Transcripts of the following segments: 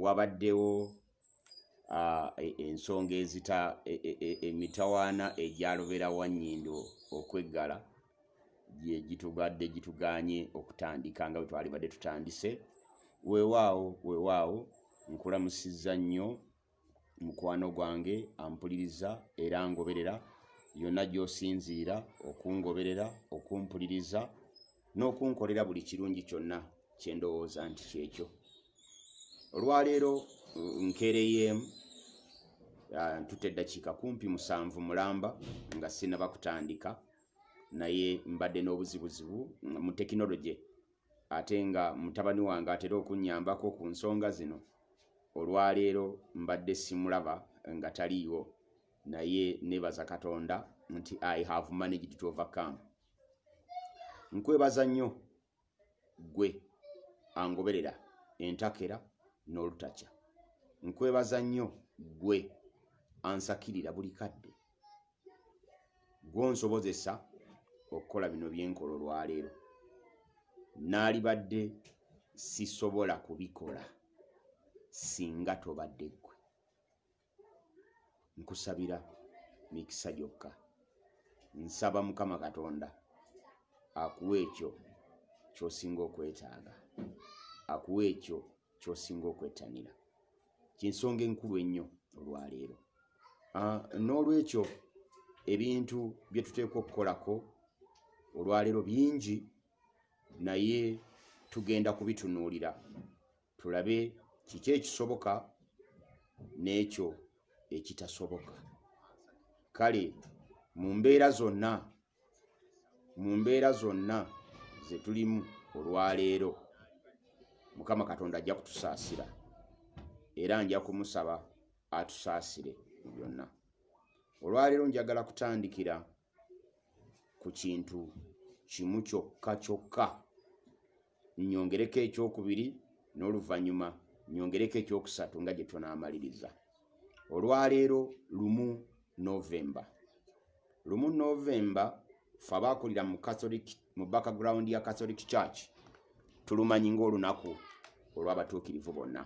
wabaddewo e, ensonga ezita e, e, emitawaana egyalobera wanyindo okweggala gye gitugadde gituganye okutandika nga bwe twalibadde tutandise weewaawo weewaawo nkulamusizza nnyo Mukwano gwange ampuliriza era angoberera yonna gy'osinziira okungoberera, okumpuliriza n'okunkolera buli kirungi kyonna kye ndowooza nti kyekyo. Olwaleero nkeereyeemu ah, ntutte eddakiika kumpi musanvu mulamba nga sinaba kutandika naye mbadde n'obuzibuzibu mu tekinologye ate nga mutabani wange atera okunnyambako ku nsonga zino, olwaleero mbadde simulaba nga taliiwo naye nebaza Katonda nti I have managed to overcome. Nkwebaza nnyo gwe angoberera entakera n'olutakya. Nkwebaza nnyo gwe ansakirira buli kadde. gwonsobozesa okukola bino byenkola olwaleero naalibadde sisobola kubikola singa tobadde ggwe nkusabira mikisa gyokka nsaba mukama katonda akuwa ekyo kyosinga okwetaaga akuwa ekyo kyosinga okwettanira kyensonga enkulu ennyo olwaleero ah, n'olwekyo ebintu bye tuteekwa okukolako olwaleero bingi naye tugenda kubitunuulira tulabe kiki ekisoboka n'ekyo ekitasoboka kale mu mbeera zonna mu mbeera zonna ze tulimu olwaleero, Mukama Katonda ajja kutusaasira era nja kumusaba atusaasire mu byonna. Olwaleero njagala kutandikira ku kintu kimu kyokka kyokka. nnyongereko ekyokubiri n'oluvannyuma nnyongereko ekyokusatu nga gye tunaamaliriza olwaleero lumu novemba lumu novemba fe abaakulira mu catholic mu background ya catholic church tulumanyi ng'olunaku olw'abatuukirivu bonna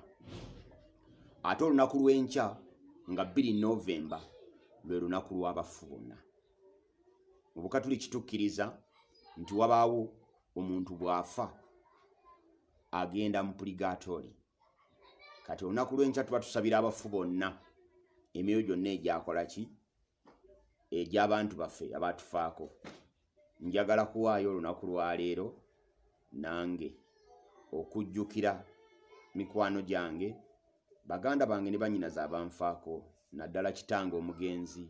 ate olunaku lw'enkya nga bbiri novemba lwe lunaku lw'abafu bonna mu bukatuli kitukkiriza nti wabaawo omuntu bw'afa agenda mu puligatori kati olunaku lw'enkya tuba tusabira abafu bonna emyoyo gyonna egyakola ki egy'abantu baffe abatufaako njagala kuwaayo olunaku lwaleero nange okujjukira mikwano gyange Baganda bange ne bannyinaze abanfaako naddala kitange omugenzi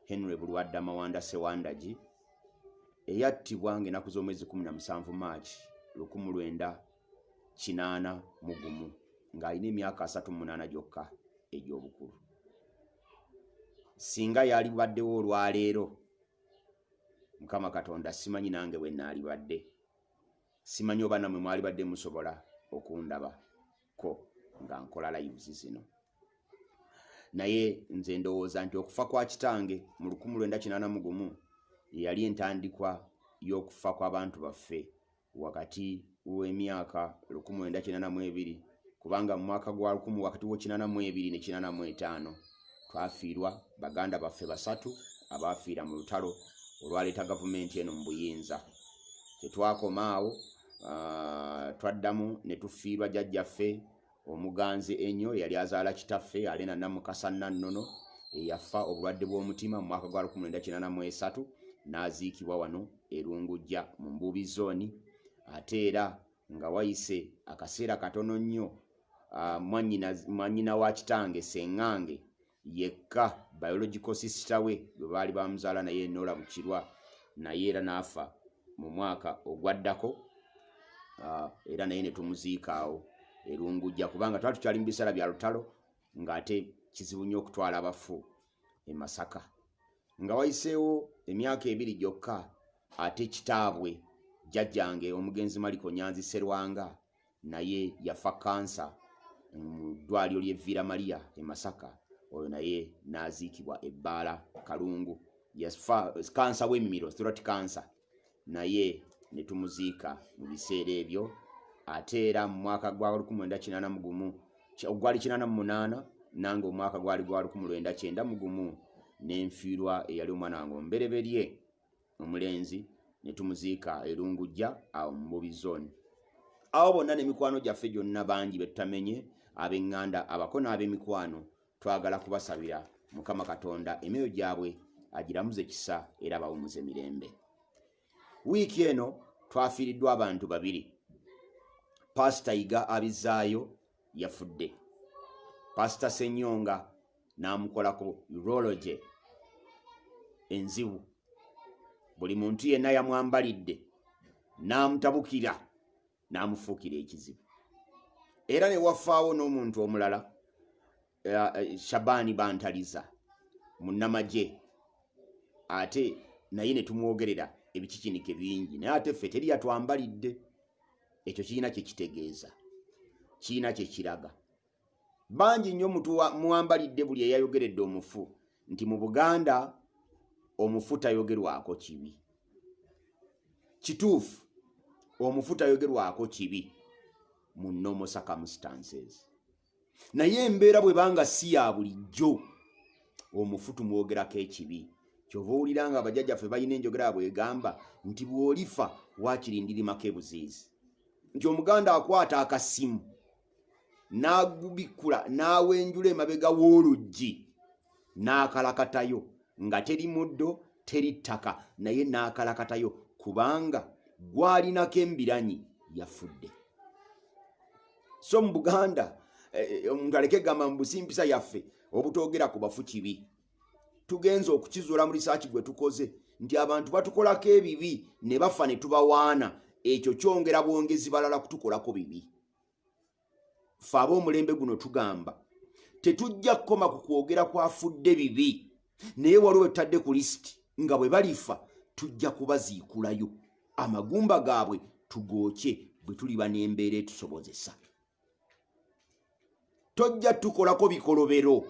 Henry Bulwadda Mawanda Ssewandagi eyattibwa ng'enaku z'omwezi 17 March 1981 ng'alina emyaka 38 gyokka egy'obukulu. Singa yalibaddewo olwaleero, Mukama Katonda simanyi nange bwe naalibadde, simanyi oba namwe mwalibadde musobola okundaba. ko nga nkola lives zino naye nze ndowooza nti okufa kwa kitange mu lukumu lwenda kinana mu gumu yeyali entandikwa y'okufa kw'abantu baffe wakati w'emyaka lukumu lwenda kinana mu ebiri kubanga mu mwaka gwa lukumu wakati w'ekinana mu ebiri ne kinana mu etaano twafiirwa baganda baffe basatu abaafiira mu lutalo olwaleeta gavumenti eno mu buyinza tetwakoma awo uh, twaddamu ne tufiirwa jajjaffe omuganzi ennyo eyali azaala kitaffe alena namukasa nannono eyafa obulwadde bw'omutima mu mwaka gwa 1993 n'aziikibwa wano erungujja mu mbuubi zooni ate era nga wayise akaseera katono nnyo uh, mwanyina wa kitange sengange yekka biological sister we gwe baali bamuzaala naye enola bukirwa naye era n'afa mu mwaka ogwaddako ah, era naye ne tumuziikaawo erungujja kubanga twali tukyali mu biseera bya lutalo ng'ate kizibu nnyo okutwala abafu e masaka nga wayiseewo emyaka ebiri gyokka ate kitaabwe jjajjange omugenzi maliko nyanzi serwanga naye yafa kansa mu ddwaliro ly'e Vira Maria e Masaka oyo naye n'aziikibwa ebbaala Kalungu yafa kansa w'emmiro throat cancer naye ne tumuziika mu biseera ebyo ate era mu mwaka gwa 1991 ogwali 88 nange omwaka gwali gwa 1991 ne nfiirwa eyali omwana wange omubereberye omulenzi ne tumuziika erungujja awo mu bubi zooni awo bonna n'emikwano gyaffe gyonna bangi be tutamenye ab'eŋŋanda abako n'ab'emikwano twagala kubasabira mukama katonda emyoyo gyabwe agiramuze kisa era bawumuze mirembe wiiki eno twafiiriddwa abantu babiri paasita yiga abizaayo yafudde paasita senyonga n'amukola ku urology enzibu buli muntu yenna yamwambalidde n'amutabukira n'amufuukira ekizibu era ne wafaawo n'omuntu omulala eh, eh, shabaani bantaliza munnamagye ate naye ne tumwogerera ebikikinike bingi naye ate ffe teri yatwambalidde ekyo kirina kye kitegeeza kirina kye kiraga bangi nnyo muwambalidde buli eyayogeredde omufu nti mu buganda omufu tayogerwako kibi kituufu omufu tayogerwako kibi mu nomo circumstances naye embeera bwe banga si ya bulijjo omufu tumwogerako ekibi kyova owulira nga abajaja ffe balina enjogera yabwe egamba nti bw'olifa wakirindirimako ebuziizi nti omuganda akwata akasimu n'agubikkula n'awenjula emabega w'oluggi n'akalakatayo nga teri muddo teri ttaka naye n'akalakatayo kubanga gwalinako embiranyi yafudde so mu buganda eh, eh, omuntu aleke gamba mu busimpisa yaffe obutoogera ku bafu kibi tugenza okukizuula mu lisaaki gwe tukoze nti abantu batukolako ebibi ne bafa ne tubawaana ekyo kyongera bwongezi balala kutukolako bibi fe aba omulembe guno tugamba tetujja kukoma ku kwogera kwafudde bibi naye waliwo wetutadde ku lisiti nga bwe balifa tujja kubaziikulayo amagumba gaabwe tugookye bwe tuliba n'embeera etusobozesa tojja tukolako bikolobero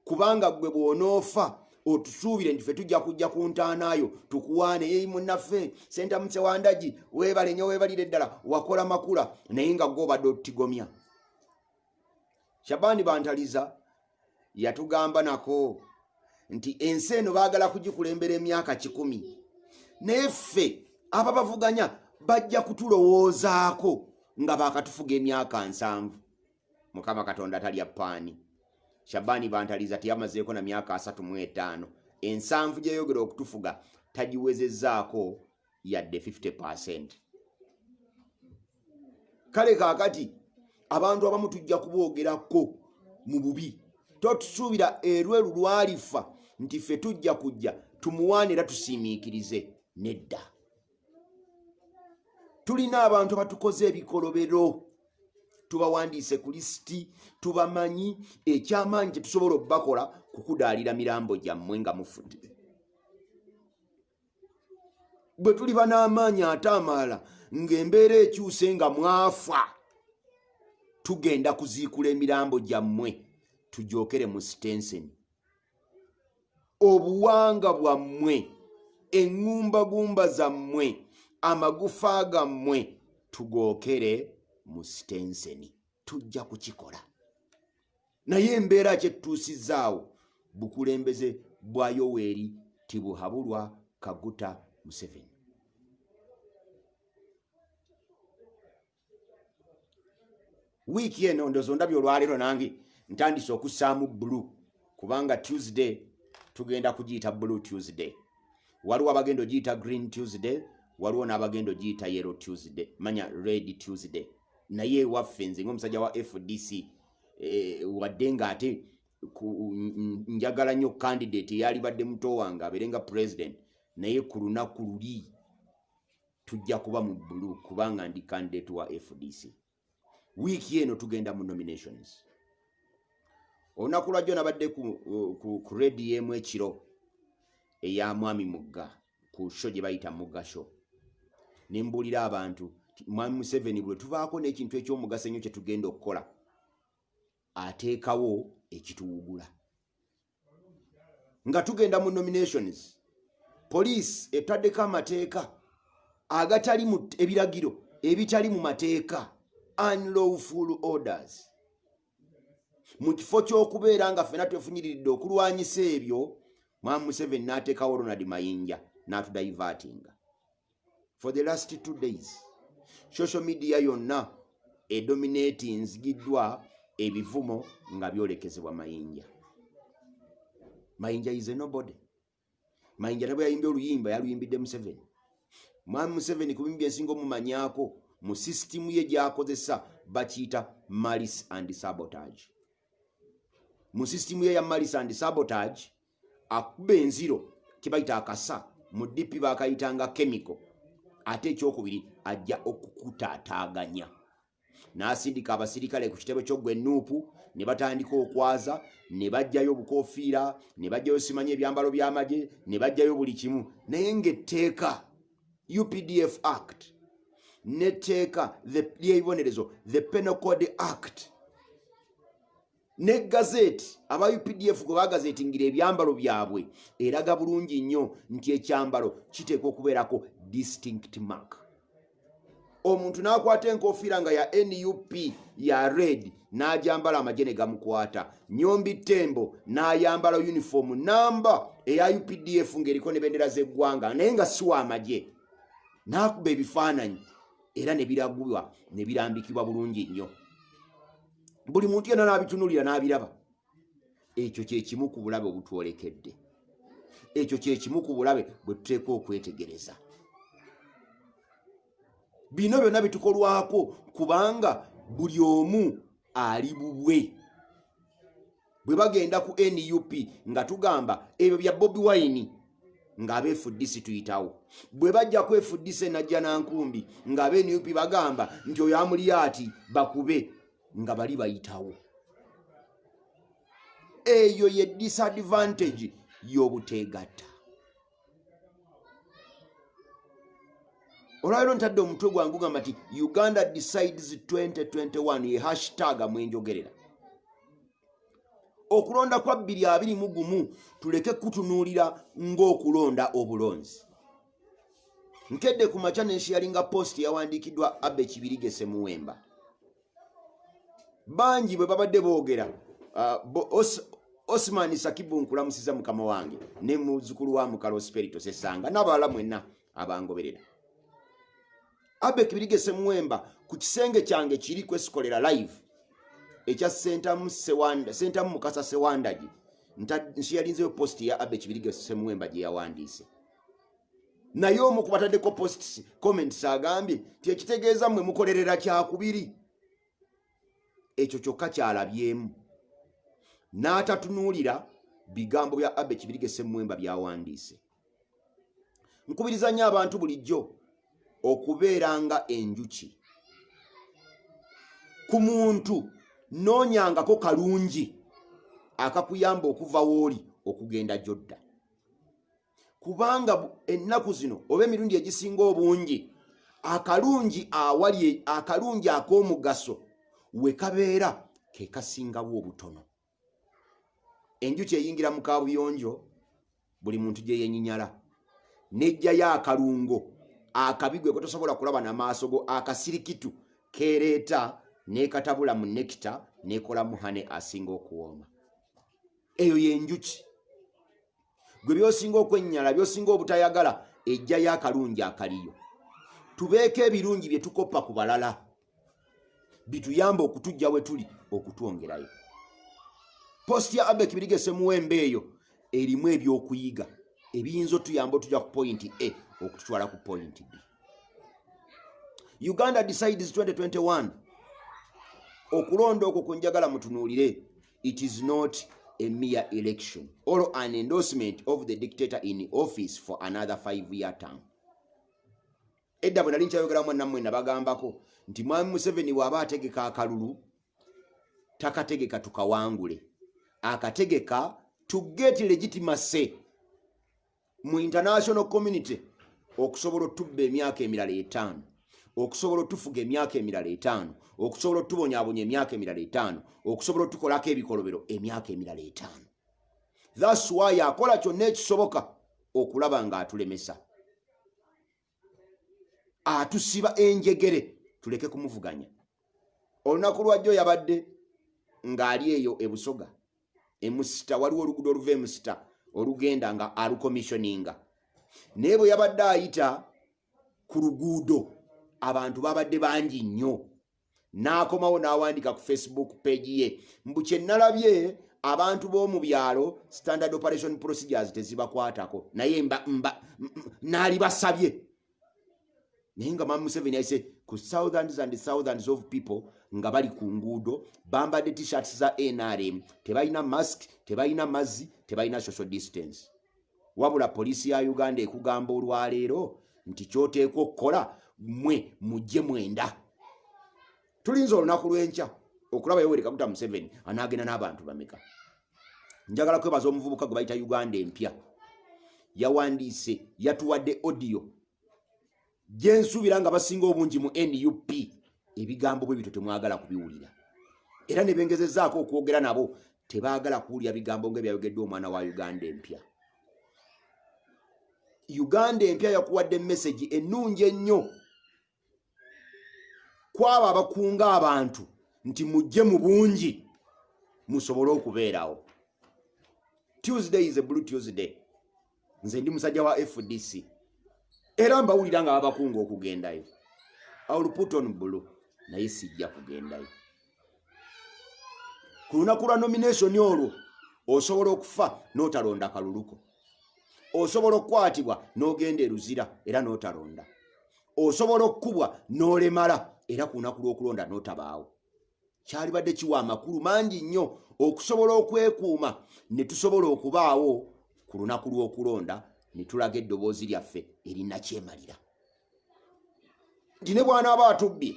kubanga gwe bwonoofa otusuubire nti fe tujja kujja ku ntaanaayo tukuwaane eyi munaffe sentamuse wandagi weebale nyo weebalire ddala wakola makula naye nga gobadde otutigomya shabani bantaliza yatugamba nako nti ensi eno baagala kugikulembera emyaka kikumi naye ffe aba bavuganya bajja kutulowoozaako nga baakatufuga emyaka nsanvu mukama katonda talya paani shabaani bantaliza teyamazeeko na myaka asatu mu etaano ensanvu gyeyogera okutufuga tagiwezezaako yadde 50 percent kale kakati abantu abamu tujja kuboogerako mu bubi totusuubira erwelu lwalifa nti ffe tujja kujja tumuwaana era tusiimiikirize nedda tulina abantu abatukoze ebikolobero tubawandiise ku lisiti tubamanyi ekyamaanyi kyetusobola okubakola kukudaalira mirambo gyammwe nga mufudde bwe tuliba n'amaanyi ate amaala ng'embeera ekyuse nga mwafa tugenda kuziikula emirambo gyammwe tujookere mu sitenseni obuwanga bwammwe eŋŋumbagumba zammwe amagufa gammwe tugookere mu sitenseni tujja kukikola naye embeera kyettuusizaawo bukulembeze bwa yoweeri tibuhabulwa kaguta museveni wiiki eno ndozo ndabye olwaleero nange ntandise okussaamu bulu kubanga tuesday tugenda kugiyita blue tuesday waliwo abagenda ogiyita green tuesday waliwo n'abagenda ogiyita yellow tuesday manya red tuesday naye ewaffe nze ngaomusajja wa fdc eh, wadde nga ate njagala nnyo candidate eyalibadde muto wange abeere nga president naye ku lunaku luli tujja kuba mu bulu kubanga ndi candidate wa fdc wiiki eno tugenda mu nominations olunaku lwajjo nabadde ku, ku, ku rediemu ekiro eya mwami mugga ku sho gye bayita mugasho ne mbuulira abantu mwami museveni bwe tubaako n'ekintu eky'omugaso ennyo kye tugenda okukola ateekawo ekituwugula nga tugenda mu nominations poliisi etaddeko amateeka agatali mu ebiragiro ebitali mu mateeka unlawful orders mu kifo ky'okubeera nga ffena twefunyiriridde okulwanyisa ebyo mwamu museveni n'ateekawo ronald mayinja n'atudaivatinga for the last two days social media yonna edominati nzigiddwa ebivumo nga byolekezebwa mayinja mayinja is a nobody mayinja ne bwe yayimbye oluyimba yaluyimbidde museveni mwami museveni ku bimu byensinga omumanyaako mu sisitimu ye gyakozesa bakiyita malis and sabotage mu sisitimu ye ya malis and sabotage akuba enziro kyebayita akasa mu dp bakayitanga kemiko ate ekyokubiri ajja okukutaataaganya n'asindika abasirikale ku kitebe ky'oggwa ennuupu ne batandika okwaza ne bajjayo obukofiira ne bajjayo simanyi ebyambalo by'amagye ne bajjayo buli kimu naye ng'etteeka updf act n'etteeka ly'ebibonerezo the penal code act ne gazeti aba updf gwe bagazetingira ebyambalo byabwe eraga bulungi nnyo nti ekyambalo kiteekwa okubeerako distinct mark omuntu n'akwata enkofiira nga ya nup ya red n'ajambala amagye ne gamukwata nyombi tembo n'ayambala uniform namba eya updf ng'eriko ne bendera z'eggwanga naye nga siwa amagye n'akuba ebifaananyi era ne biragulwa ne birambikibwa bulungi nnyo buli muntu yena nabitunulira nabiraba ekyo kyekimu ku bulabe obutwolekedde ekyo kyekimu ku bulabe bwe tuteeka okwetegereza bino byonna bitukolwako kubanga buli omu ali bubwe bwe bagenda ku nup nga tugamba ebyo bya bobi wayini ng'abeefuddisi tuyitawo bwe bajja kwefuddisa enajja na nkumbi ng'abenup bagamba nti oyo amuliyaati bakube nga bali bayitawo eyo ye disadvantage y'obuteegatta olwaliro ntadde omutwe gwange ogamba nti uganda decides 2021 ye hashtag mwenjogerera okulonda kwa bbiri abiri mu gumu tuleke kutunuulira ng'okulonda obulonzi nkedde ku makya nenshiyalinga post yawandiikiddwa abe kibirigese muwemba bangi bwe babadde boogera uh, osman sakibu nkulamusiza mukama wange ne muzukulu wa mukalo sperito sesanga n'abalala mwenna abangoberera abek birigese muwemba ku kisenge kyange kiri kwesikolera live ekya sentamu sewanda sentamu mukasa sewandagi nsiyalinzeyo posti ya abek birigese muwemba gye yawandiise naye omu ku bataddeko posts comments agambye nti ekitegeeza mwe mukolerera kyakubiri ekyo kyokka kyalabyemu n'atatunuulira bigambo bya abe kibirige semwemba byawandiise nkubiriza nnyo abantu bulijjo okubeera nga enjuki ku muntu noonyangako kalungi akakuyamba okuva wooli okugenda gyodda kubanga ennaku zino oba emirundi egisinga obungi akalungi awali e, akalungi ak'omugaso we kabeera ke kasingawo obutono enjuki eyingira mu kabuyonjo buli muntu gye yenyinyala nejjayo akalungo akabi gwe kotosobola kulaba na maaso go akasirikitu kereeta nekatabula mu nekita nekolamu hane asinga okuwooma eyo yenjuki gwe byosinga okwennyala byosinga obutayagala ejjayo akalungi akaliyo tubeeko ebirungi bye tukoppa ku balala bituyamba okutujja we tuli okutwongerayo posti ya abbe kibirige semuwembe eyo erimu ebyokuyiga ebiyinza otuyamba otuja ku pointi a okututwala ku pointi b uganda decides 2021 okulonda okwo kunjagala mutunuulire it is not a mere election or an endorsement of the dictator in office for another five year term edda bwe nali nkyayogeramu nammwe nabagambako nti mwami museveni waaba ategeka akalulu takategeka tukawangule akategeka to get legitimacy mu international community okusobola otubba emyaka emirala etaano okusobola otufuga emyaka emirala etaano okusobola otubonyabonya emyaka emirala etaano okusobola otukolako ebikolobero emyaka emirala etaano thats wy akola kyonna ekisoboka okulaba nga atulemesa atusiba enjegere tuleke kumuvuganya olunaku lwajjo yabadde ng'ali eyo ebusoga emusita waliwo olugudo oluva emusita olugenda nga alukomishoninga naye bwe yabadde ayita ku luguudo abantu babadde bangi nnyo n'akomawo n'awandiika ku facebook page ye mbu kye nalabye abantu b'omu byalo standard operation procedures tezibakwatako naye naalibasabye naye nga mamu museveni aise ku thousands and thousands of people nga bali ku nguudo bambadde t-shirts za nrm tebalina mask tebalina mazzi tebalina social distance wabula poliisi ya uganda ekugamba olwaleero nti kyoteekwa okukola mwe mujje mwenda tulinza olunaku lwenkya okulaba yoweri kaguta museveni anaagenda n'abantu bameka njagala kwebaza omuvubuka gwe bayita uganda empya yawandiise yatuwadde odiyo gyensubira nga basinga obungi mu nup ebigambo bwe bityo temwagala kubiwulira era ne bengezezaako okwogera nabo tebaagala kuwulira bigambo nga ebyayogeddwa omwana wa uganda empya uganda empya yakuwadde mesagi ennungi ennyo kwabo abakunga abantu nti mujje mu bungi musobole okubeerawo tuesday is a blue tuesday nze ndi musajja wa fdc era mbawulira nga babakunga okugendayo auluputon bulu naye sijja kugendayo ku lunaku lwa nomination olwo osobola okufa notalonda kaluluko osobola okukwatibwa nogenda eruzira era notalonda osobola okukubwa nolemala era ku lunaku lwokulonda notabaawo kyalibadde kiwa amakulu mangi nnyo okusobola okwekuuma ne tusobola okubaawo ku lunaku lw'okulonda ne tulaga eddoboozi lyaffe erinakyemalira nti ne bwanaaba atubbye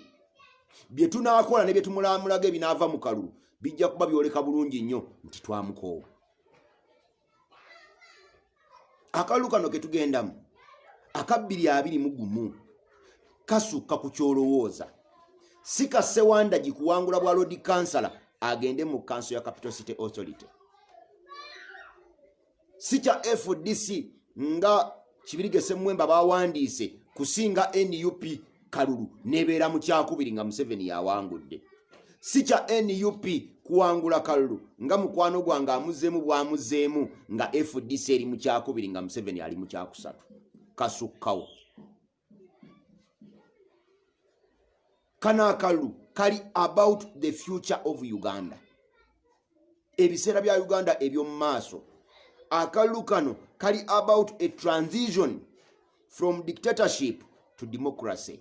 bye tunaakola ne bye tumulamulaga ebinaava mu kalulu bijja kuba byoleka bulungi nnyo nti twamukoowa akalulu kano ketugendamu akabbiri abiri mu gumu kasukka ku kyolowooza si ka sewandagi kuwangula bwa lodi kansala agende mu kanso ya capital city authority si kya fdc nga kibirige semwemba bawandiise kusinga nup kalulu nebeera mu kyakubiri nga museveni yawangudde si kya nup kuwangula kalulu nga mukwano gwange amuzeemu bwamuzeemu nga fdc eri mu kyakubiri nga museveni ali mu kyakusatu kasukkawo kano akalulu kali about the future of uganda ebiseera bya uganda ebyomu maaso akalulu kano kali about a transition from dictatorship to democracy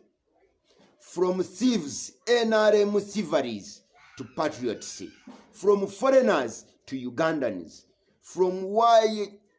from thieves nrm thieveries to patriots from foreigners to ugandans from why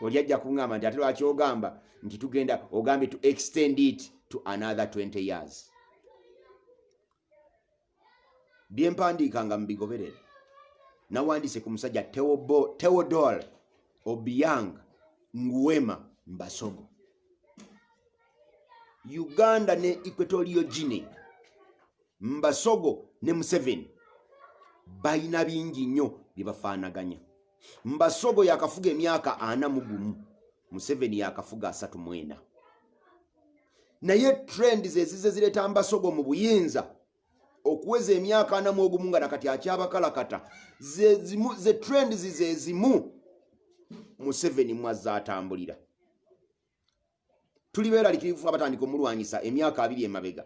oli ajja kuŋamba nti ate lwaki ogamba nti tugenda ogambye to extend it to another 20 years byempandiika nga mubigoberere nawandiise ku musajja teodol obiang nguwema mbasogo uganda ne equatorio gine mbasogo ne museveni balina bingi nnyo byebafaanaganya mbasogo yakafuga emyaka ana mugumu museveni yakafuga asatu mwena naye trend zezize zireta mbasogo mu buyinza okuweza emyaka ana mwogumu nga nakati akyabakalakata ze trend zizezimu museveni mwazza atambulira tuli beeralikirivu abatandika omulwanyisa emyaka abiri emabega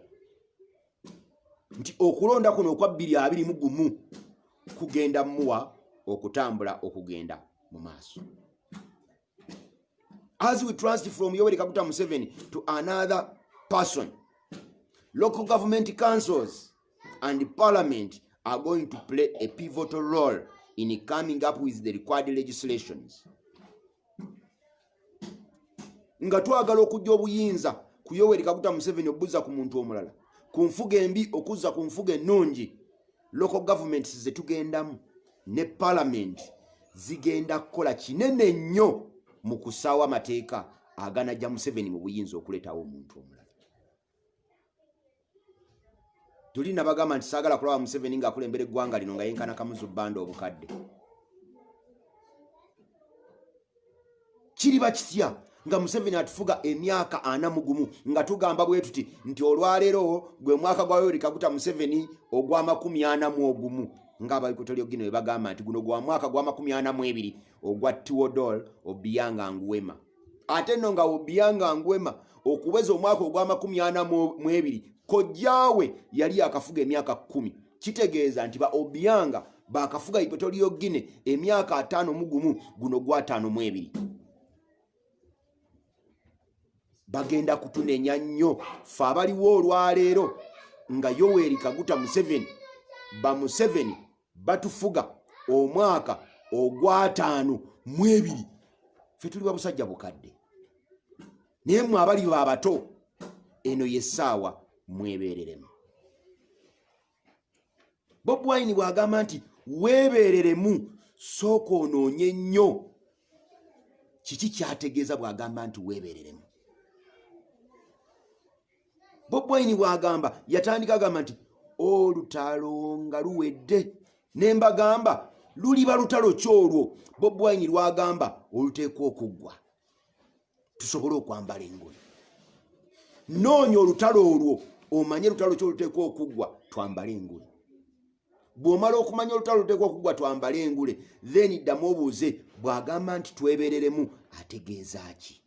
nti okulonda kuno okwa bbiri abiri mu gumu kugenda muwa okutambula okugenda mu maaso as we transit from yoweri kaguta museveni to another person local government councils and parliament are going to play a pivotal role in coming up with the required legislations nga twagala okujja obuyinza ku yoweri kaguta museveni obuza ku muntu omulala ku nfuga embi okuzza ku nfuga ennungi local governments zetugendamu ne parliament zigenda kukola kinene nnyo mu kusaawo amateeka aganajja museveni mu buyinza okuleetawo omuntu omulala tuli nabagamba nti saagala kulaba museveni ngaakulembera eggwanga lino nga yenkana kamuzu bbanda obukadde kiriba kitya nga museveni atufuga emyaka ana mugumu nga tugamba bwe tuti nti olwaleero gwe mwaka gwa yoweri kaguta museveni ogw'amakumi ana mu ogumu ngaabaikotolyogino webagamba nti guno gwa mwaka gw'amakumi ana mu ebiri ogwa tiodol obiyanga nguwema ate no nga obianga ngwema okuweza omwaka ogw'amakumi ana mu ebiri kojjaawe yali yakafuga emyaka kumi kitegeeza nti ba obianga bakafuga ipetoliyo gine emyaka ataano mu gumu guno gwataano mu ebiri bagenda kutunenya nnyo fe abaliwo olwaleero nga yoweri kaguta museveni bamuseveni batufuga omwaka ogwataano mu ebiri fe tuli babusajja bukadde naye mwe abali babato eno yesaawa mwebereremu bob wine bwagamba nti webereremu sooka onoonye nnyo kiki kyategeeza bwagamba nti webereremu bobwaini bwagamba yatandika agamba nti olutalo nga luwedde nembagamba luliba lutalo ki olwo bobwaini lwagamba oluteekwa okuggwa tusobole okwambala engoye noonya olutalo olwo omanye lutalo ki oluteekwa okuggwa twambale engoye bw'omala okumanya olutalo luteekwa okuggwa twambale engule then ddamu obuuze bw'agamba nti twebereremu ategeeza ki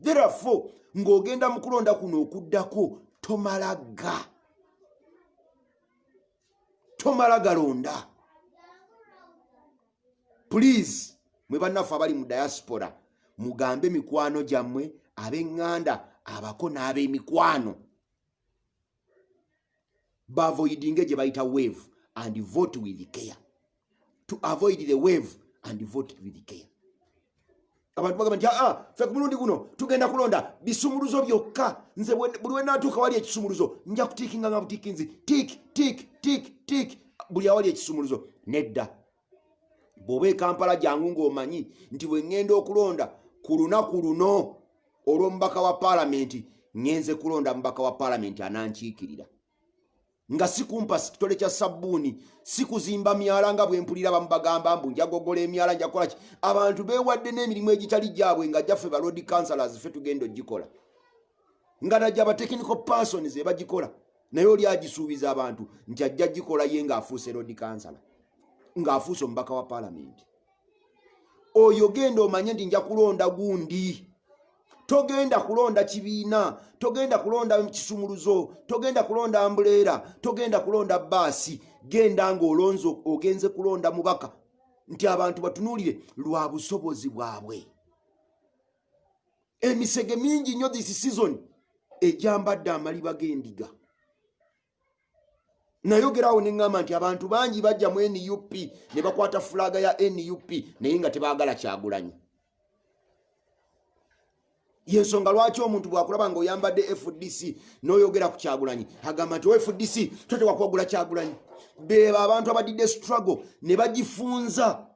therefore ng'ogenda mu kulonda kuno okuddako tomalaga tomala galonda please mwe bannaffe abali mu diaspora mugambe mikwano gyammwe ab'eŋŋanda abako n'ab'emikwano bavoidinge gye bayita wave and vote with care to avoid the wave and vote with care abantu bagamba nti aa fe ku mulundi guno tugenda kulonda bisumuluzo byokka nze buli wenatuuka wali ekisumuluzo nja kutiikinga nga butiikinzi tik tik tik tik buli awali ekisumuluzo nedda bw'oba ekampala jangu ng'omanyi nti bwe ŋŋenda okulonda ku lunaku luno olw'omubaka wa paalamenti ŋŋenze kulonda mubaka wa paalamenti anankiikirira nga sikumpa kitole kya sabbuuni sikuzimba myala nga bwe mpulira bamu bagamba mbu njagogola emyala njakukola ki abantu beewadde n'emirimu egitali gyabwe nga gyaffe baloodi councilors ffe tugenda ogikola nga najja ba technical persons ebagikola naye oli agisuubiza abantu nti ajja gikola ye ng'afuuse rod kansala ng'afuuse omubaka wa palamenti oyo genda omanye nti nja kulonda gundi togenda kulonda kibiina togenda kulonda kisumuluzo togenda kulonda ambuleera togenda kulonda baasi genda ng'olonzo ogenze kulonda mubaka nti abantu batunuulire lwa busobozi bwabwe emisege mingi nnyo this season egyambadde amaliba g'endiga nayogeraawo ne ŋŋamba nti abantu bangi bajja mu nup ne bakwata fulaaga ya nup naye nga tebaagala kyagulanyi yensonga lwaki omuntu bwakulaba nga oyambadde fdc noyogera ku kyagulanyi agamba nti fdc totewakwagula kyagulanyi beba abantu abadidde struggle ne bagifunza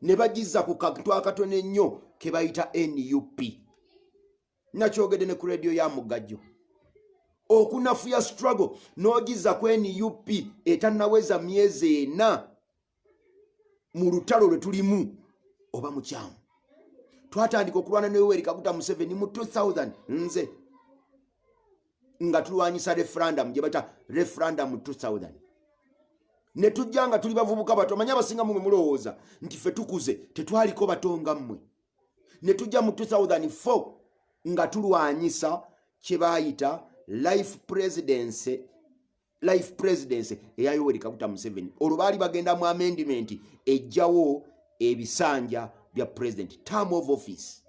ne bagiza ku kantu akatono ennyo ke bayita nup nakyogedde ne ku rediyo ya mugajjo okunafuya struggle n'ogiza ku nup etanaweza myezi ena mu lutalo lwe tulimu oba mukyamu twatandika okulwana ne yoweri kaguta museveni mu 2000 nze nga tulwanyisa referendum gye bayita referendum 2000 ne tujja nga tuli bavubuka bato manya abasinga mumwe mulowooza nti fe tukuze tetwaliko bato nga mmwe ne tujja mu 2004 nga tulwanyisa kye bayita life presidency life presidency eya yoweri kaguta museveni olwo baali bagenda mu amendment ejjawo ebisanja bya president term of office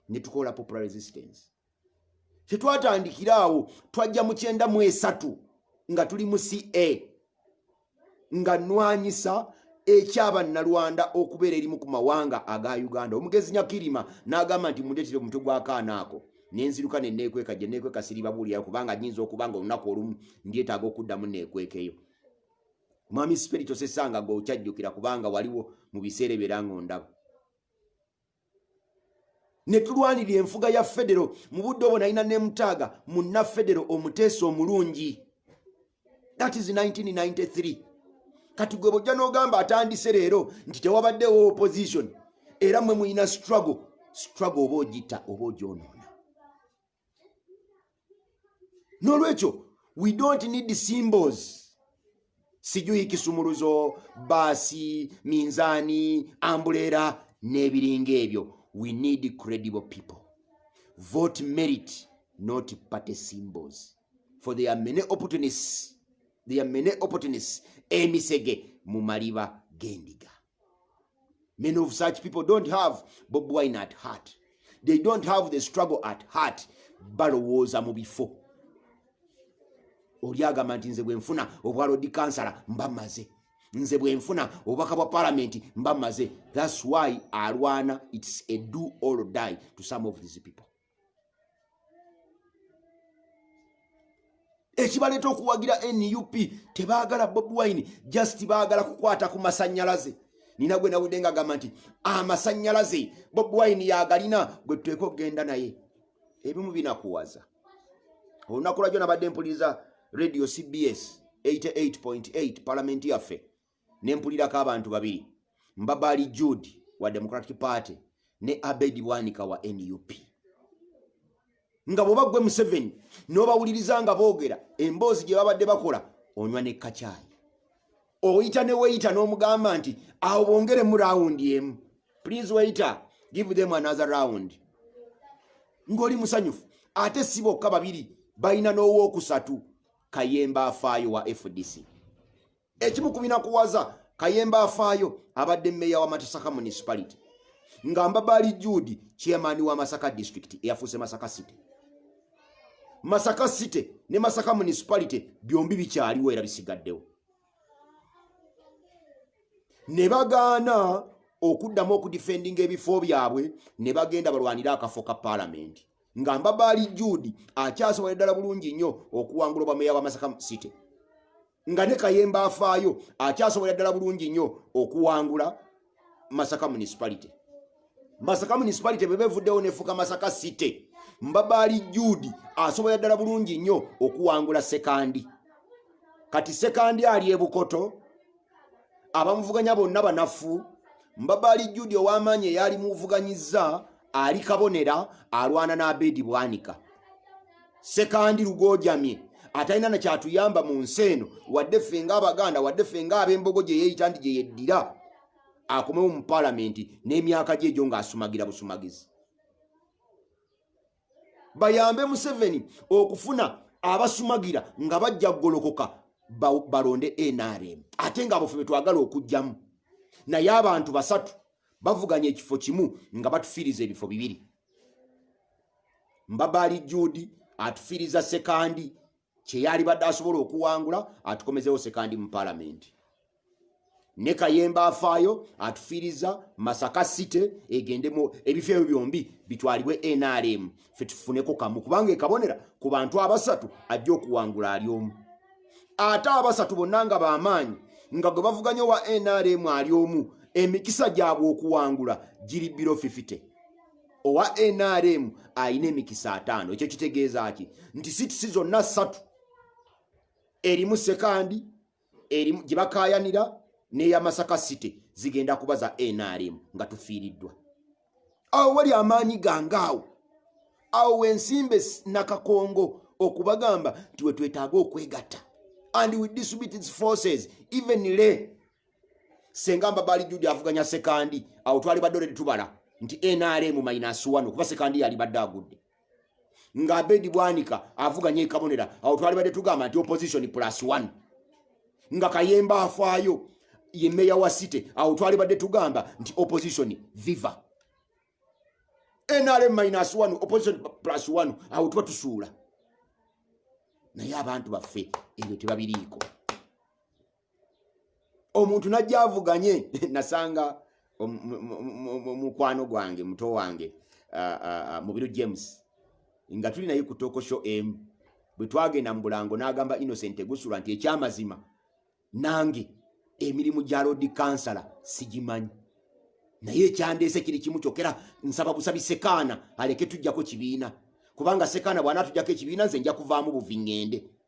ne tukola popular resistance tetwatandikira awo twajja mu kyenda mu esatu nga tuli mu ca nga nwanyisa ekyabannalwanda okubeera erimu ku mawanga aga uganda omugezi nyakirima n'agamba nti mundetere omutwe gw'akaana ako nenziruka neneekweka gye neekweka siribabuulira kubanga nyinza okuba nga olunaku olumu ndyetaaga okuddamu neekwekeyo mwami siperi tosesanga gwe okyajjukira kubanga waliwo mu biseera ebyera ng'ondaba ne tulwanirira enfuga ya federo mu budde obwo nalina ne mutaaga munna federo omuteesa omulungi that is 1993 kati gwe bojja n'ogamba atandise leero nti tewabaddewo opposition era mwe mulina struggle struggle oba ogita oba ogyonoona n'olwekyo we don't need symbols sijuyi kisumuluzo baasi minzaani ambuleera n'ebiringa ebyo we need credible people vote merit not party symbols for there are many opportunists there are many opportunists emisege mu maliba gendiga many of such people don't have bob wine at heart they don't have the struggle at heart balowooza mu bifo oli agamba nti nze bwenfuna obwa lodi kansala mba maze nze bwenfuna obubaka bwa palamenti mba maze thats why alwana its a do all die to some of these people ekibaleeta okuwagira nup tebaagala bobi wine just baagala kukwata ku masanyalaze nina gwe nawudde nga gamba nti amasanyalaze bobi wine yagalina gwe tuteeka okugenda naye ebimu binakuwaza olunaku lwajjo nabadde mpuliriza radio cbs 88.8 palamenti yaffe ne mpulirako abantu babiri mbabaali jude wa democratic party ne abedi bwanika wa nup nga bwoba gwe museveni n'obawuliriza nga boogera emboozi gye babadde bakola onywa ne kacaayi oyita ne weyita n'omugamba nti awo bongere mu rawundi emu please weyita give them another round ng'oli musanyufu ate si bokka babiri balina n'owookusatu kayemba afaayo wa fdc ekimu ku binakuwaza kayemba afaayo abadde meeya wa matasaka municipality nga mbabaali jude chairman wa masaka district eyafuuse masaka city masaka city ne masaka municipality byombi bikyaliwo era bisigaddewo ne bagaana okuddamu okudifendinga ebifo byabwe ne bagenda balwanire akafo ka paalamenti nga mbabaali jude akyasobola eddala bulungi nnyo okuwangula obwameeya wa masaka city nga ne kayemba afaayo akyasobola ddala bulungi nnyo okuwangula masaka municipality masaka municipality bwe bevuddewo nefuka masaka city mbabaali juudi asobola ddala bulungi nnyo okuwangula sekandi kati sekandi ali ebukoto abamuvuganya bonna banafu mbabaali juudi ow'amaanyi eyaali muvuganyizza ali kabonera alwana n'abeedi bwanika sekandi lugojamye atalina nakyatuyamba mu nsi eno wadde ffe nga abaganda wadde ffe nga ab'embogo gye yeeyita nti gye yeddira akomewo mu palamenti n'emyaka gye egyo ng'asumagira busumagizi bayambe museveni okufuna abasumagira nga bajja kugolokoka balonde nrm ate ngaabofe be twagala okugjamu naye abantu basatu bavuganya ekifo kimu nga batufiiriza ebifo bibiri mbabaali judi atufiriza sekandi kyeyali badde asobola okuwangula atukomezewo sekandi mu palamenti ne kayemba afaayo atufiriza masaka city egendemu ebifo ebyo byombi bitwalibwe nrm fe tufuneko kamu kubanga ekabonera ku bantu abasatu ajja okuwangula ali omu ate abasatu bonna nga bamaanyi nga gwe bavuganya owa nrm ali omu emikisa gyabwe okuwangula giri biro 50 owa nrm alina emikisa ataano ekyo kitegeeza ki nti situsi zonna ssatu erimu sekandi erimu gye bakaayanira n'eya masaka city zigenda kuba za nrm nga tufiiriddwa awo wali amaanyi gange awo awo wensimbe nakakongo okubagamba nti wetwetaaga okwegatta and with disabilities forces even le senga mbabaali judi avuganya sekandi awo twali badde oledi tubala nti nrm minus one okuba sekandi yali badde agudde nga abedi bwanika avuganya ekabonera awo twali badde tugamba nti opposition plus one nga kayemba afaayo ye meya wa city awo twali badde tugamba nti opposition viva nrm minus one opposition plus one awo tuba tusuula naye abantu baffe ebyo tebabiriiko omuntu najja avuganye nasanga mukwano gwange muto wange mubiru james nga tuli naye ku tokosho emu bwe twagenda mu bulango n'agamba innocent egusula nti ekyamazima nange emirimu gya lodi kansala sigimanyi naye ekyandeese kiri kimu kyokera nsaba busabi sekaana aleke tujjako kibiina kubanga sekaana bw'anaatujjako ekibiina nze nja kuvaamu buvi ŋŋende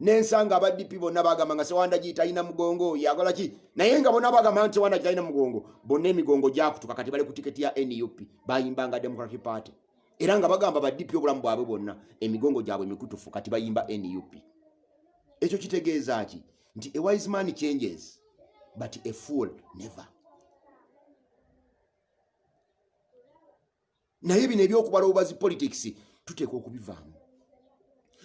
nensanga aba dp bonna bagamba nga sewandagi talina mugongo yakola ki naye nga bona bagamba nti sewandagi talina mugongo bonna emigongo gyakutuka kati bali ku tiketi ya nup bayimbanga democratic party era nga bagamba ba dp obulamu bwabwe bwonna emigongo gyabwe mikutufu kati bayimba nup ekyo kitegeeza ki nti a wise man changes but a fool never naye bino ebyokubala obubazi politics tuteeka okubivaamu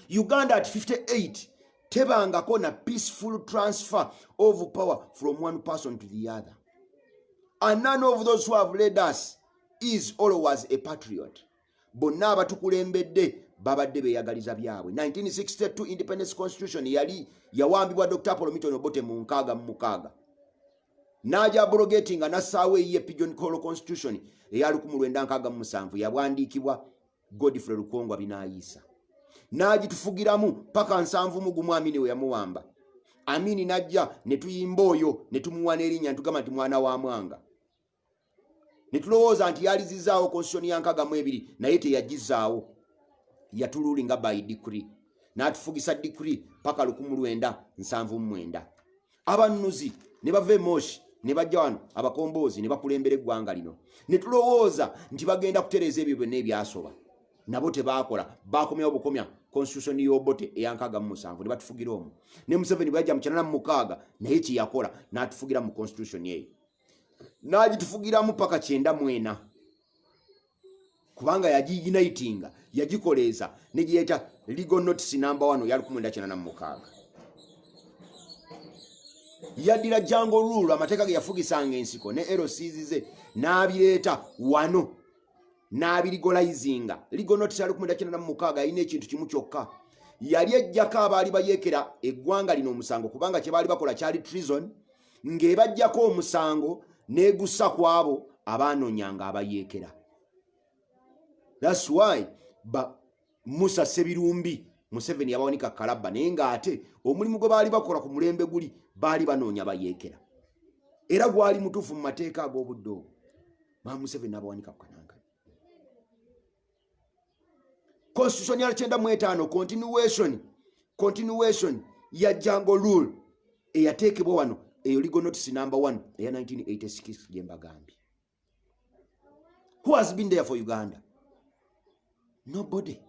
uganda at 58 tebangako na peaceful transfer of power from one person to the other and none of those who have led us is always a patriot bonna abatukulembedde babadde beyagaliza byabwe 1962 independence constitution yali yawambibwa dr apolomitonobote mu nkaaga mu mukaaga n'agya abrogatinga n'assaawo eyiye pigeon call constitution eya 1967 yabwandiikibwa godfrey lukongwa binaayiisa n'agitufugiramu paka nsanvu mu gumu amini we yamuwamba amini n'ajja ne tuyimba oyo ne tumuwa n'erinnya ntugamba nti mwana wa mwanga netulowooza nti yalizizaawo constitution ya nkaga mu ebiri naye teyagizaawo yatululi nga by degree natufugisa degree paka lukumu lwenda nsanvu mumwenda abanuzi ne bava emoshi ne bajja wano abakomboozi ne bakulembera eggwanga lino ne tulowooza nti bagenda kutereeza ebyo byonna ebyasoba nabo tebaakola bakomyawo bukomya constitution yobote eyankaga mu musanvu ne batufugira omu ne museveni bweyajja mu kinana mu mukaaga naye kyeyakola n'atufugira mu constitution eyo n'agitufugiramu paka kyenda mwena kubanga yagiiginayitinga yagikoleeza ne gye yayita legal notice namba wano ya lukumwenda kyenda na mukaaga yaddira jango rule amateeka ge yafugisanga ensiko ne erosiizize n'abireeta wano n'abirigolayizinga legal notice ya lukumwenda kyenda na mukaaga yalina ekintu kimu kyokka yali ejjako abaali bayekera eggwanga lino omusango kubanga kye baali bakola kyali treason ng'ebaggyako omusango n'egussa ku abo abaanonyanga abayeekera thats why ba musa sebirumbi museveni yabawanika kalabba naye ng'ate omulimu gwe baali bakola ku mulembe guli baali banoonya bayeekera era gwali mutuufu mu mateeka ag'obudde obwo ba museveni n'abawanika ku kananga constitution ya kyenda mu etaano continuation continuation ya jango rule eyateekebwa wano eyo legal notice number one eya 1986 gye mbagambye who has been there for uganda nobody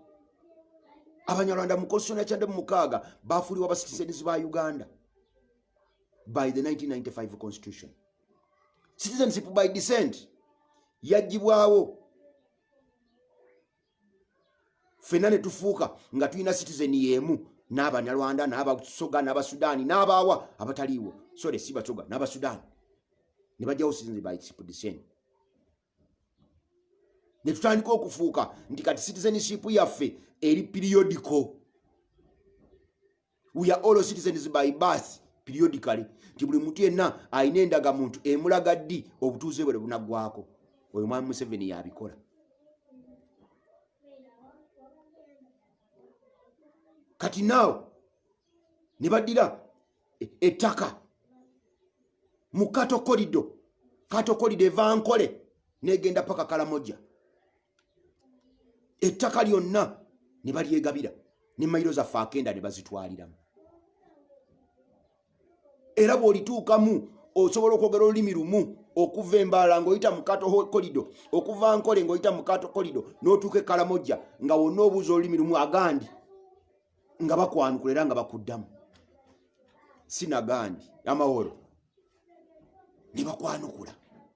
abanyarwanda mu constitution ya kyenda mu mukaaga baafuliwa ba citizens ba uganda by the 1995 constitution citizenship by descent yajjibwawo fena ne tufuuka nga tulina citizen yemu n'abanyarwanda n'abasoga n'abasudaani n'abaawa abataliiwo sore si basoga n'abasudaani ne bajjawo citizen by expedition ne tutandika okufuuka nti kati citizenship yaffe eri periodical we are all citizens by birth periodically nti buli muntu yenna alina endaga muntu emulaga ddi obutuuze bwe bunaggwako oyo mwami museveni yabikola kati naawo ne baddira e, ettaka mu katokolido katokolido eva nkole negenda paka kalamoja ettaka lyonna ne balyegabira ne mayiro zaffe akenda ne bazitwaliramu era bw'olituukamu osobola okwogera olulimi lumu okuva embaala ng'oyita mu kato kolido okuva nkole ng'oyita mu kato kolido n'otuuka ekalamojja nga wonna obuuza olulimi lumu agandi nga bakwanukula era nga bakuddamu sinagandi amaworo ne bakwanukula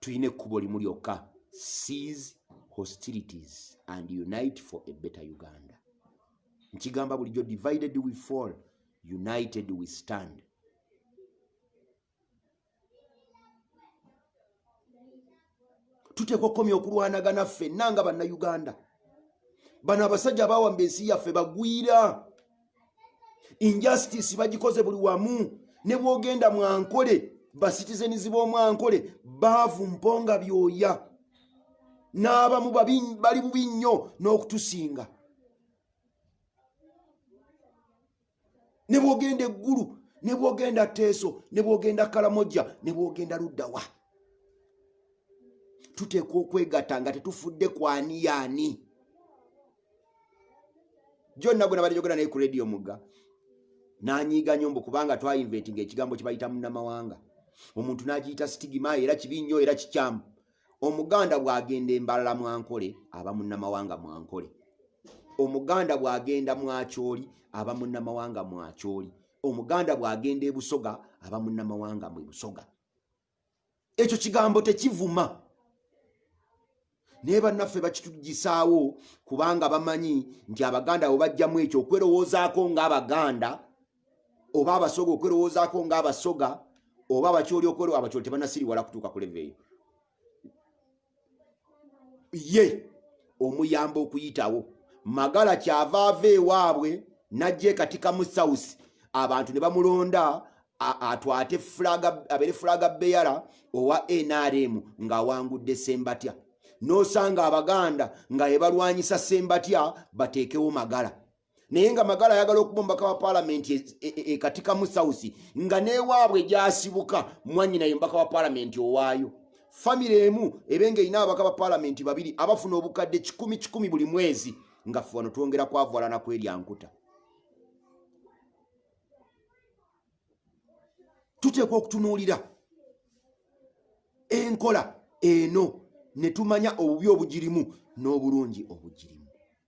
tulina ekkubo limu lyokka seas hostilities and unite for a better uganda nkigamba bulijjo divided we fall united we stand tuteekwa okukomya okulwanagana ffenna nga bannayuganda bano abasajja abawamba ensi yaffe bagwira injustice bagikoze buli wamu ne bwogenda mwankole basitizenizi b'omwankole baavu mponga byoya n'abamu bali bubi nnyo n'okutusinga ne bwogenda eggulu ne bwogenda teeso ne bwogenda kalamojja ne bwogenda luddawa tuteekwa okwegatta nga tetufudde kwaniyaani jonna gwe nabadde jogera naye ku rediyo mugga nanyiiga nyo mbu kubanga twainventi nga ekigambo kibayita munamawanga omuntu nagiyita sitigima era kibi nnyo era kikyamu Omuganda bw'agenda e Mbarara mu Ankole aba munnamawanga mu Ankole. Omuganda bw'agenda mu Acholi aba munnamawanga mu Acholi. Omuganda bw'agenda e Busoga aba munnamawanga mu Busoga. Ekyo kigambo tekivuma. Naye bannaffe bakitugisaawo kubanga bamanyi nti Abaganda bwe bajjamu ekyo okwerowoozaako ng'Abaganda oba abasoga okwerowoozaako nga abasoga oba abakyoli okwero abakyoli tebanasiriwala kutuuka ku leve eyo ye omuyamba okuyitawo magala kyava ava ewaabwe najja ekatikamu south abantu ne bamulonda atwate abeere fulaga beyara owa nrm ng'awangudde sembatya n'osanga abaganda nga ebalwanyisa sembatya bateekewo magala naye nga magala ayagala okubombaka wa palamenti ekatikamu e, e, e, sausi nga newaabwe gyasibuka mwanyina ye mubaka wa palamenti owaayo famiry emu ebe nga erina ababaka ba palamenti babiri abafuna obukadde kikumi kikumi buli mwezi nga fe wano twongera kwavwalana kwelyankuta tuteekwa okutunuulira enkola eno ne tumanya obubi obugirimu n'obulungi obugirimu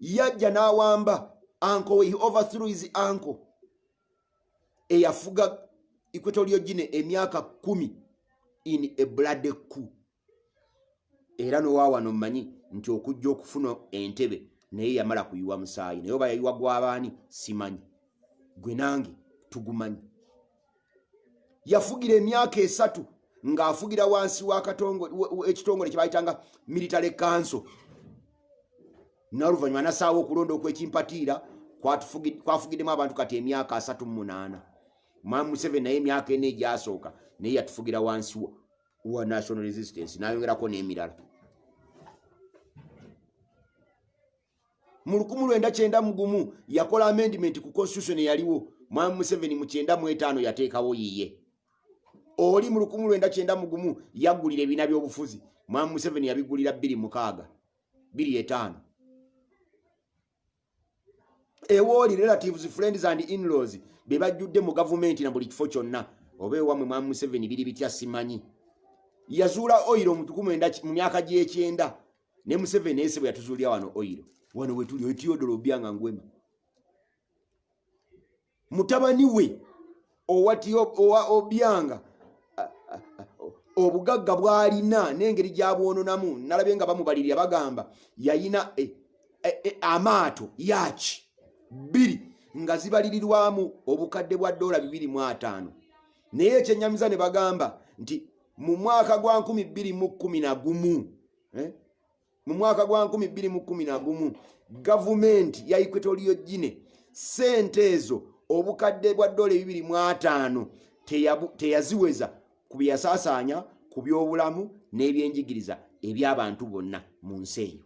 yajja n'awamba anko we he overthrew his anko eyafuga equatorio gine emyaka kumi in a bloody coup era nowaawano mmanyi nti okujja okufuna entebe naye yamala kuyiwa musaayi naye oba yayiwa gwabaani simanyi gwe nange tugumanyi yafugira emyaka esatu ng'afugira wansi w'ekitongole kye bayitanga military council n'oluvannyuma nasaawo okulonda okwekimpatiira kwafugiddemu abantu kati emyaka asatu mu munaana mamu museveni naye emyaka ena egyasooka naye yatufugira wansi wa national resistance nayongerako n'emirala mu lukumu lwenda kyenda mugumu yakola amendment ku constitution eyaliwo mwami museveni mu kyenda mu etaano yateekawo yiye oli mu lukumu lwenda kyenda mugumu yagulira ebiina by'obufuzi mwami museveni yabigulira bbiri mukaaga bbiri etaano ewooli relatives friends and inlaws be bajjudde mu gavumenti na buli kifo kyonna oba ewamwe mwami museveni biri bitya simanyi yazuula oyiro mu myaka gy'ekyenda ne museveni ese bwe yatuzuulira wano oyiro wano wetuli oitiyodolo obyanga ngwema mutabani we owati owa obyanga obugagga bwalina n'engeri gyabwononamu nalabye nga bamubalirira bagamba yayina e, e, e, amaato yaaki bbiri nga zibalirirwamu obukadde bwa doola bibiri mu ataano naye ekyenyamiza ne bagamba nti mu mwaka gwa nkumi bbiri mu kkumi na gumu eh? mu mwaka gwa nkumi bbiri mu kkumi na gumu gavumenti ya equatorial gine sente ezo obukadde bwa dola ebibiri mu ataano teyaziweza ku byeyasaasaanya ku byobulamu n'ebyenjigiriza eby'abantu bonna mu nsi eyo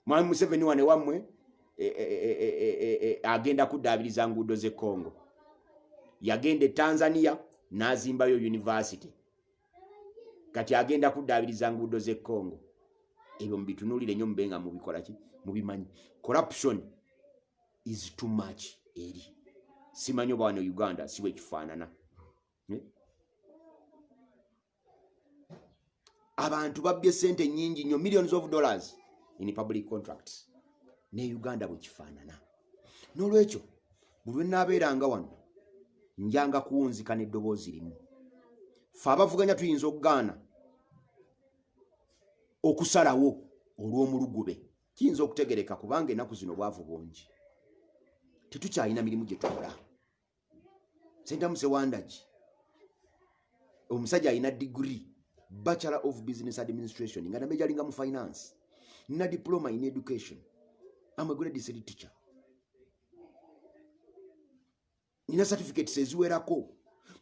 mwami museveni wane wammwe e, e, e, agenda kuddaabiriza nguudo z'e congo yagenda e tanzania n'azimbayo univasity kati agenda kuddaabiriza nguudo z'e congo ebyo mubitunuulire nnyo mube nga mubikola ki mubimanyi corruption is too much eri simanyi oba wano uganda si bwekifaanana abantu babbye sente nyingi nnyo millions of dollars in public contracts ne uganda bwekifaanana n'olwekyo buli lwenaabeeranga wano njanga kuwunzika n'eddoboozi limu fe abavuganya tuyinza okugaana okusalawo olw'omulugube kiyinza okutegereka kubanga enaku zino obwavu bungi tetukyalina mirimu gye tukola sentamu sewandagi omusajja alina degree bachelor of business administration nga nabe jalinga mu finance na diploma in education am a grade city teacher nina certificates eziwerako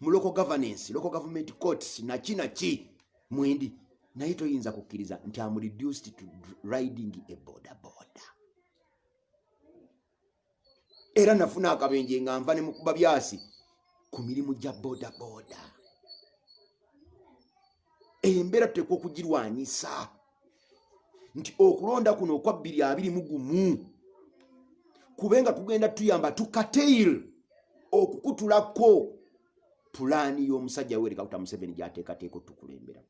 mu local governance local government courts naki naki mwendi naye toyinza kukkiriza nti am reduced to riding a border border era nafuna akabenje nga nva ne mukuba byasi ku mirimu gya bodaboda embeera tuteekwa okugirwanyisa nti okulonda kuno okwa bbiri abiri mu gumu kube nga kugenda tuyamba tukatail okukutulako pulaani y'omusajja werekakuta museveni gyateekateeka otukulembera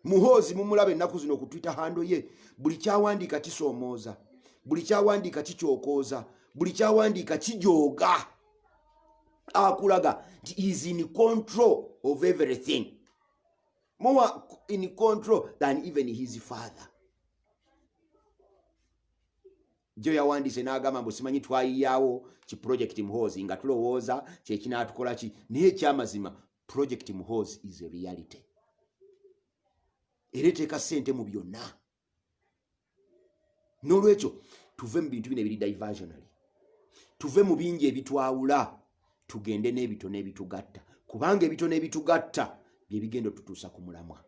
muhoozi mumulaba ennaku zino ku twitter hando ye buli kyawandiika kisoomooza buli kyawandiika kikyokooza buli kyawandiika kijooga akulaga nti is in control of everything more in control than even his father jo yawandiise n'agamba mbu simanyi twayiyaawo ki projekiti muhoozi nga tulowooza kyekinatukolaki naye ekyamazima project muhoozi is a reality era eteeka sente mu byonna n'olwekyo tuve mu bintu bino ebiri diversionary tuve mu bingi ebitwawula tugende n'ebitono ebitugatta kubanga ebitono ebitugatta bye bigenda otutuusa ku mulamwa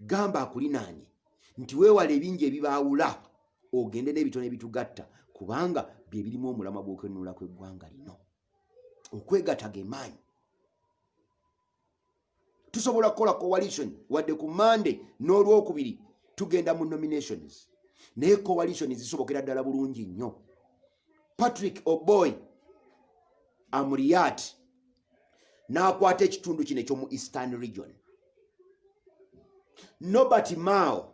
gamba akulinaanye nti weewala ebingi ebibaawula ogende n'ebitono ebitugatta kubanga bye birimu omulamwa gw'okwenunula kw'eggwanga lino okwegata gemaanyi tusobola kukola coalition wadde ku mande n'olwokubiri tugenda mu nominations naye coalition zisobokera ddala bulungi nnyo patrick oboy amuriat n'akwata ekitundu kino ekyomu eastern region nobert mao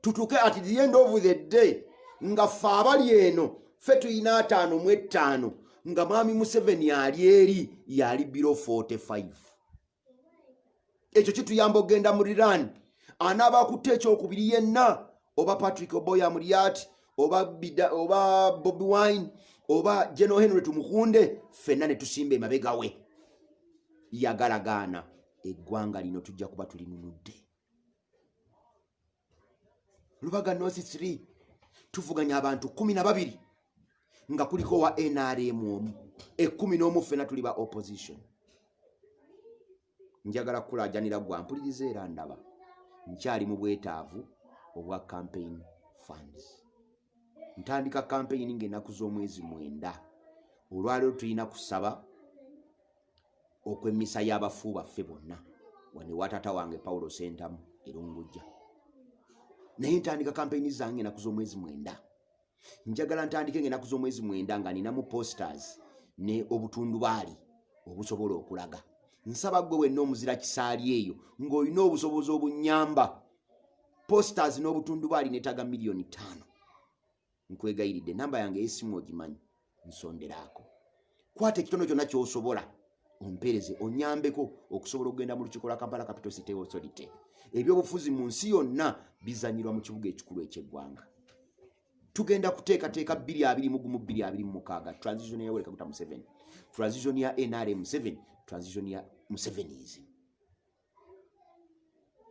tutuuke at the end of the day nga ffe abali eno ffe tulina ataano mu ettaano nga mwami museveni ali eri yali biro 45 ekyo kituyamba okugenda mu riran anaaba akutte ekyokubiri yenna oba patrick oboya mulyati oba, oba bobi wine oba general henry tumukunde ffenna ne tusimba emabegawe yagalagaana eggwanga lino tujja kuba tulinunudde lubaga nosi 3 tuvuganya abantu kumi na babiri nga kuliko wa nrm omu ekumi n'omu ffena tuli ba opposition njagala kukulajanira gwa mpuliriza era ndaba nkyali mu bwetaavu obwa campaign funds ntandika kampeyini ng'ennaku z'omwezi mwenda olwaleero tulina kusaba okw'emmisa y'abafu baffe bonna wano ewa taata wange pawulo sentamu erungujja naye ntandika kampeyini zange ennaku z'omwezi mwenda njagala ntandike ng'ennaku z'omwezi mwenda nga ninamu posters ne obutundubaali obusobola okulaga nsaba gwe wenna omuzira kisaali eyo ng'olina obusobozi obunyamba posters n'obutundubaali netaga miliyoni taano nkwegayiridde namba yange eyesimu ogimanyi nsonderaako kwata ekitono kyonna kyosobola ompeereze onyambeko okusobola okugenda mu lukiko lwa kampala capital city authority ebyobufuzi mu nsi yonna bizanyirwa mu kibuga ekikulu ekyeggwanga tugenda kuteekateeka bbiri abiri mugumu bbiri abiri mumukaaga transition ya yoweri kaguta museveni transition ya nrm museveni transition ya musevenism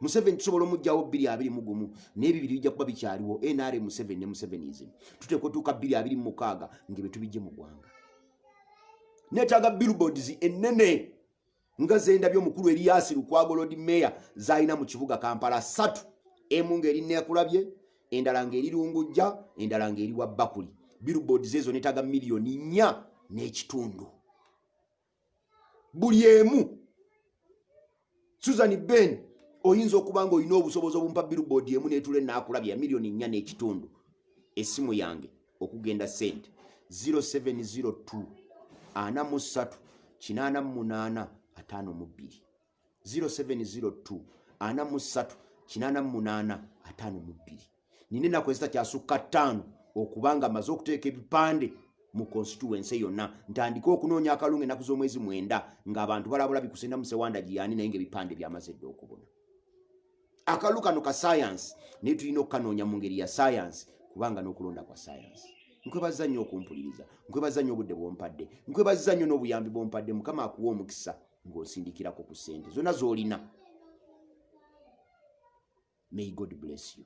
museveni tusobola omugjawo bbiri abiri mugumu naye bibiri bijja kuba bikyaliwo nra museveni ne musevenism tuteekwa otuuka bbiri abiri mumukaaga nga byetubijje mu ggwanga netaaga billboards ennene nga zendabye omukulu eriyasi lukwago lod mayor zalina mu kibuga kampala satu emu ngaeri nekulabye endala ngaeri lungujja endala ngaeri wa bakuli billboards ezo netaaga miliyoni nnya n'ekitundu buli emu susan ben oyinza okuba nga olina obusobozi obumpa billboard emu netula enakulabye ya miliyoni nnya n'ekitundu esimu yange okugenda sente 0702 ana mu ssatu kinaana mu munaana ataano mu bbiri 0702 ana mu ssatu kinaana mu munaana ataano mu bbiri nina ennaku ezitakyasukka ttaano okubanga amaze okuteeka ebipande mu konsituwense yonna ntandike okunoonya akalunga ennaku z'omwezi mwenda ng'abantu balabula bikusinda musewanda giyani naye ngaebipande byamaze dda okubona akalulu kano ka sayansi naye tulina okukanoonya mu ngeri ya sayansi kubanga n'okulonda kwa sayansi nkwebaza nnyo okumpuliriza nkwebaza nnyo obudde bwompadde nkwebaza nnyo n'obuyambi bwompadde mukama akuwa omukisa ng'osindikirako ku ssente zonna z'olina may god bless you